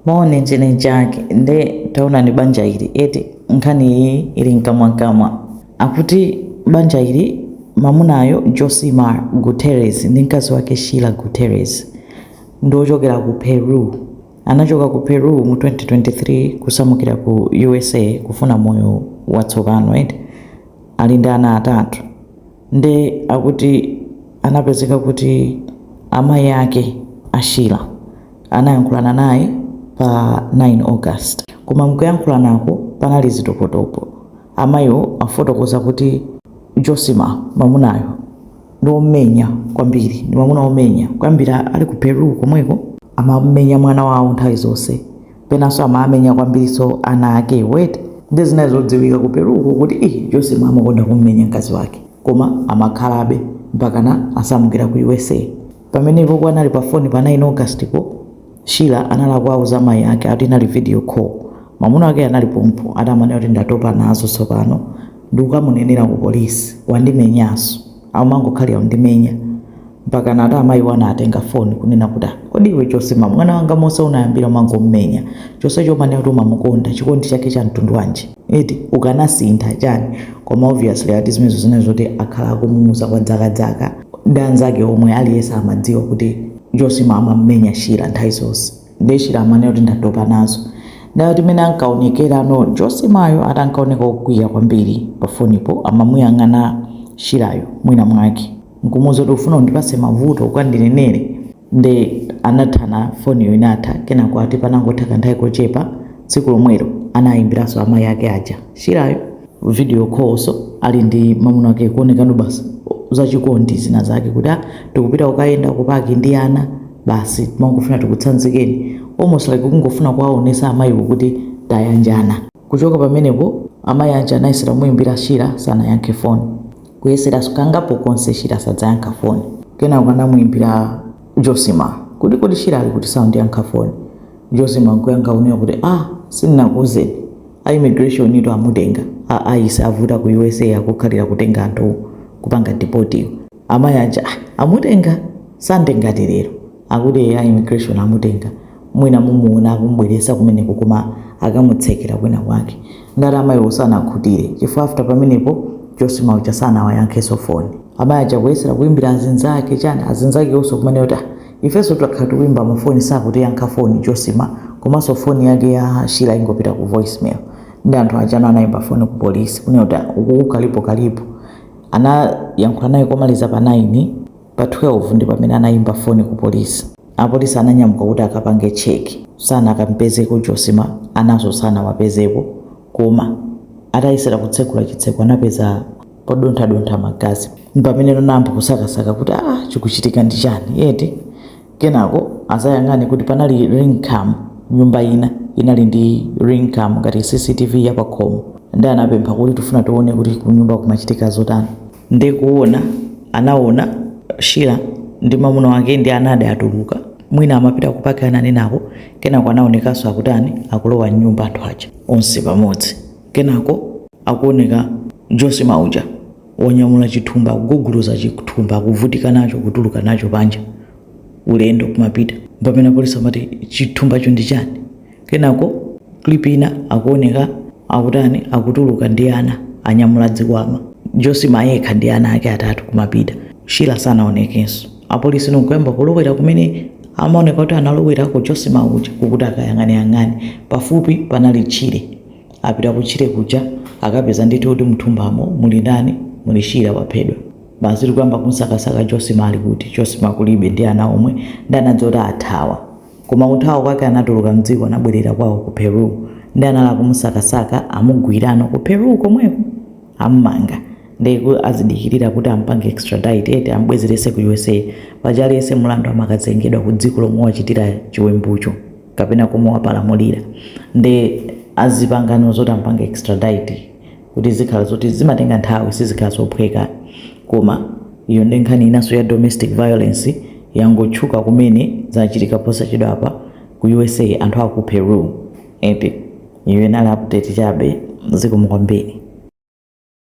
Moni ndine Jack nde taonani banja ili eti nkhani iyi ili mkamwamkamwa akuti banja ili mamunayo Josimar Guterres ndi mkazi wake Sheila Guterres ndi ochokera ku Peru anachoka ku Peru mu 2023 kusamukira ku USA kufuna moyo watsopano eti ali ndi ana atatu Nde akuti anapezeka kuti amayi ake a Sheila anayankhulana naye pa 9 August koma mkuyankhulanako panali zitopotopo. Amayiwo afotokoza kuti Josimar, mamunayo, ndi omenya kwambiri, ndi mamuna omenya kuyambira ali ku Peru komweko amamenya mwana wawo nthawi zonse penanso amaamenya kwambirinso ana ake eti nde zinali zodziwika ku peru uko kuti ih Josimar amakonda kummenya mkazi wake koma amakhalabe mpakana asamukira ku usa pamenepo anali pa foni pa 9 augustpo Sheila anali akuwauza mayi ake ati inali video call mamuna wake anali pompo ati amanena kuti ndatopa nazo tsopano ndikukamunenera ku polisi wandimenyanso amangokhalira kundimenya mpakana ati amayiwo anatenga foni kunena kuti "Ah, kodi iwe Josimar mwana wanga monse unayambira umangomumenya chonsecho umanena kuti umamukonda chikondi chake cha mtundu wanji eti ukanasintha chani koma obviously ati zimenezo zinali zoti akhala akumuuza kwa dzakadzaka ndi anzake omwe aliyense amadziwa kuti Josimar amamumenya Sheila nthawi zonse nde Sheila amanena kuti ndatopa nazo ndati mmene ankaonekerano josimayo ati ankaoneka okwiya kwambiri pafonipo amamuyang'ana Sheilayo mwina mwake nkumuuza kuti ufuna undipase mavuto ukandinenere nde anathana foniyo inatha kenako ati panangotha kanthawi kochepa tsiku lomwelo anayimbiranso amayi ake aja Sheilayo video callnso ali ndi mamuna wake kuonekano basi zachikondi zina zake kuti ah tikupita kukayenda kupaki ndi ana basi timangofuna tikutsanzikeni almost like kungofuna kuwaonesa amayiwo kuti tayanjana kuchoka pamenepo amayi aja anayesera kumuyimbira Sheila sanayankhe foni kuyesera kangapo konse Sheila sadzayankha foni kenako anamuyimbira Josimar kuti kodi Sheila ali kuti saundiyankha foni Josimar nkuyankha kunena kuti a ah, sindinakuuzeni a immigration itu amutenga a ICE avuta ku usa akukhalira kutenga anthu kupanga deportiyo amayi aja ah, amutenga Sunday ngati lero akuti a immigration amutenga mwina mumuona akumbweresa kumeneko koma akamutsekera kwina kwake ndati amayiwo sanakhutire chifukwa after pamenepo Josimar uja sanawayankheso foni amayi aja kuyesera kuimbira azinzake chani azinzake onse kumanena kuti Ifeso takhala tikuimba ma phone sakutiyankha phone Josimar komanso phone yake ya Sheila ingopita ku voicemail nde anthu aja no anaimba phone ku police kunena kuti ah, ukuku kalipo kalipo anayankhula naye komaliza pa 9 pa 12 ndi pamene anaimba phone ku police apolisi ananyamuka kuti akapange check sanakampezeko Josimar anaso sanawapezepo Koma atayesera kutsegula chitseko anapeza podonthadontha magazi. Mpameneno anayamba kusakasaka kuti, Aa, chikuchitika ndi chani eti? Kenako adzayang'ane kuti panali ring cam, nyumba ina inali ndi ring cam ngati CCTV ya pakhomo, nde anapempha kuti tifuna tione kuti kunyumba kumachitika zotani. nde kuona anaona Sheila ndi mamuna wake ndi ana awo atuluka mwina amapita kupaki ana nenako kenako anaonekaso akutani akulowa mnyumba anthu aja onse pamodzi kenako akuoneka Josimar uja wanyamula chithumba akuguguluza chithumba akuvutika nacho kutuluka nacho panja ulendo kumapita pamene apolisi amati chithumbacho ndi chani Kenako clip ina akuoneka akutani akutuluka ndi ana anyamula zikwama Josimar yekha ndi ana ake atatu kumapita Sheila sanaonekenso apolice no kuyamba kulowera kumene amaoneka kuti analowerako Josimar uja kukuti akayang'aneyang'ane pafupi panali tchire apita kutchire kuja akapeza ndithu kuti mthumbamo muli ndani muli Sheila waphedwa basi ndikuyamba kumsakasaka Josimar ali kuti Josimar kulibe ndi ana omwe nde anadziwa kuti athawa Koma kuthawa kwake anatuluka mdziko anabwerera kwawo ku Peru nde anali akumusakasaka amugwira no ku Peru komweko amumanga nde azidikilira kuti amupange extradite eti amubwezerese ku usa paja aliyese mulandu amakazengedwa ku dziko lomwe wachitira chiwembucho kapena komwe wapalamulira nde azipangano zoti amupange extradite kuti zikhala zoti zimatenga nthawi sizikhala zophweka koma iyo ndi nkhani inanso ya domestic violence yangotchuka kumene zachitika posachedwa apa ku usa anthu aku peru eti iyo inali update chabe zikomo kwambiri